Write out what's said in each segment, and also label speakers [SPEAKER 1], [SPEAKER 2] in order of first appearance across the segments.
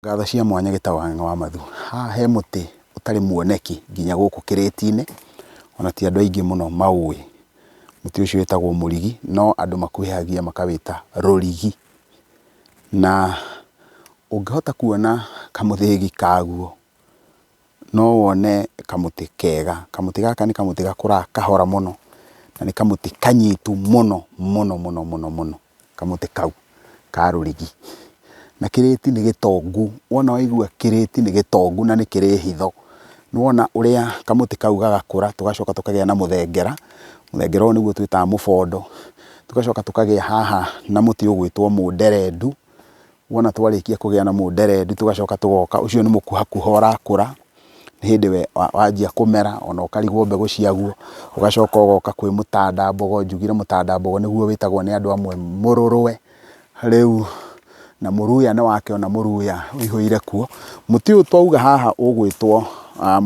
[SPEAKER 1] Ngatho cia mwanya gĩtaũ Ang'e wa Mathu. Haha he mũtĩ ũtarĩ muoneki nginya gũkũ kĩrĩti-inĩ, ona ti andũ aingĩ mũno maũĩ. Mũtĩ ũcio wĩtagwo mũrigi, no andũ makuhĩhagia makawĩta rũrigi. Na ũngĩhota kuona kamũthĩgi kaguo. no wone kamũtĩ kega. Kamũtĩ gaka nĩ kamũtĩ gakũraga kahora mũno, na nĩ kamũtĩ kanyitu mũno mũno mũno mũno mũno, kamũtĩ kau ka rũrigi. Na kĩrĩti nĩ gĩtongu, wona waigua kĩrĩti nĩ gĩtongu na nĩ kĩrĩ hitho. Nĩ wona ũrĩa kamũtĩ kau gagakũra, tũgacoka tũkagĩa na mũthengera, mũthengera ũyũ nĩguo twĩtaga mũbondo, tũgacoka tũkagĩa haha na mũtĩ ũgwĩtwo mũnderendu, Wona twarĩkia kũgĩa na mũnderendi tũgacoka tũgoka, ũcio nĩ mũkuhakuha ũrakũra, nĩ hĩndĩ we wanjia kũmera ona ũkarigwo mbegũ ciaguo, ũgacoka ũgoka kwĩ mũtandambogo, njugire mũtandambogo nĩguo wĩtagwo nĩ andũ amwe mũrũrwe, rĩu na mũruya nĩ wakĩona mũruya wĩihũire kuo. Mũtĩ ũyũ twauga haha ũgwĩtwo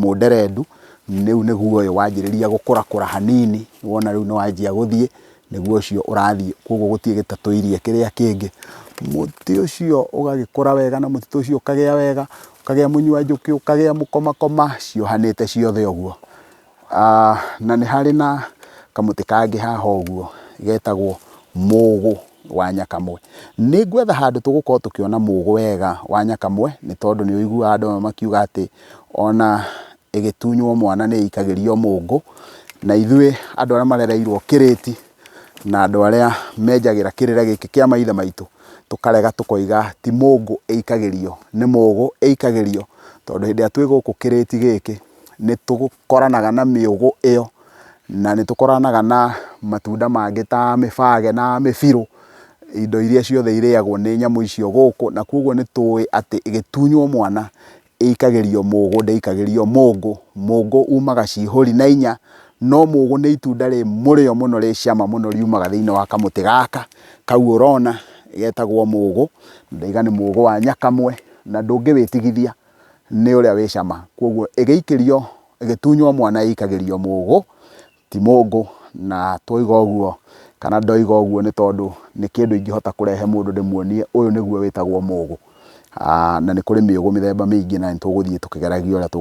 [SPEAKER 1] mũnderendu, rĩu nĩguo ũyũ wanjĩrĩria gũkũrakũra hanini, wona rĩu nĩ wanjia gũthiĩ, nĩguo ũcio ũrathiĩ koguo gũtirĩ gĩtatũirie kĩrĩa kĩngĩ. Mũtĩ ũcio ũgagĩkũra wega na mũtitũ ũcio ũkagĩa wega, ũkagĩa mũnyua njũkĩ, ũkagĩa mũkomakoma ciohanĩte ciothe ũguo. Na nĩ harĩ na kamũtĩ kangĩ haha ũguo getagwo mũgũ wa nyakamwe. Nĩ ngwetha handũ tũgũkorwo tũkĩona mũgũ wega wa nyakamwe nĩ tondũ nĩ ũiguaga andũ amwe makiuga atĩ ona ĩgĩtunywo mwana nĩ ĩikagĩrio mũngũ, na ithuĩ andũ arĩa marereirwo kĩrĩti, na andũ arĩa menjagĩra kĩrĩre gĩkĩ kĩa maithe maitũ, tũkarega tũkoiga ti mũngũ ĩikagĩrio, nĩ mũgũ ĩikagĩrio, tondũ hĩndĩ ĩrĩa twĩ gũkũ kĩrĩti gĩkĩ, nĩ tũkoranaga na mĩũgũ ĩyo, na nĩ tũkoranaga na matunda mangĩ ta mĩbage na mĩbirũ, indo iria ciothe irĩagwo nĩ nyamũ icio gũkũ, na kogwo nĩ tũĩ atĩ ĩgĩtunywo mwana, ĩikagĩrio mũgũ ndĩikagĩrio mũngũ. Mũngũ umaga ciihũri na inya, no mũgũ nĩ itunda rĩ mũrĩo mũno rĩ cama mũno riumaga thĩinĩ wa kamũtĩ gaka kau ũrona getagwo mũgũ. Ndauga nĩ mũgũ wa nyakamwe na ndũngĩwĩtigithia nĩ ũrĩa wĩ cama. Kwoguo ĩgĩikĩrio, ĩgĩtunywo mwana ĩikagĩrio mũgũ ti mũngũ, na twoiga ũguo kana ndoiga ũguo nĩ tondũ nĩ kĩndũ ingĩhota kũrehe mũndũ ndĩmuonie ũyũ nĩguo wĩtagwo mũgũ, na nĩ kũrĩ mĩũgũ mĩthemba mĩingĩ na nĩ tũgũthiĩ tũkĩgeragia ũrĩa tũ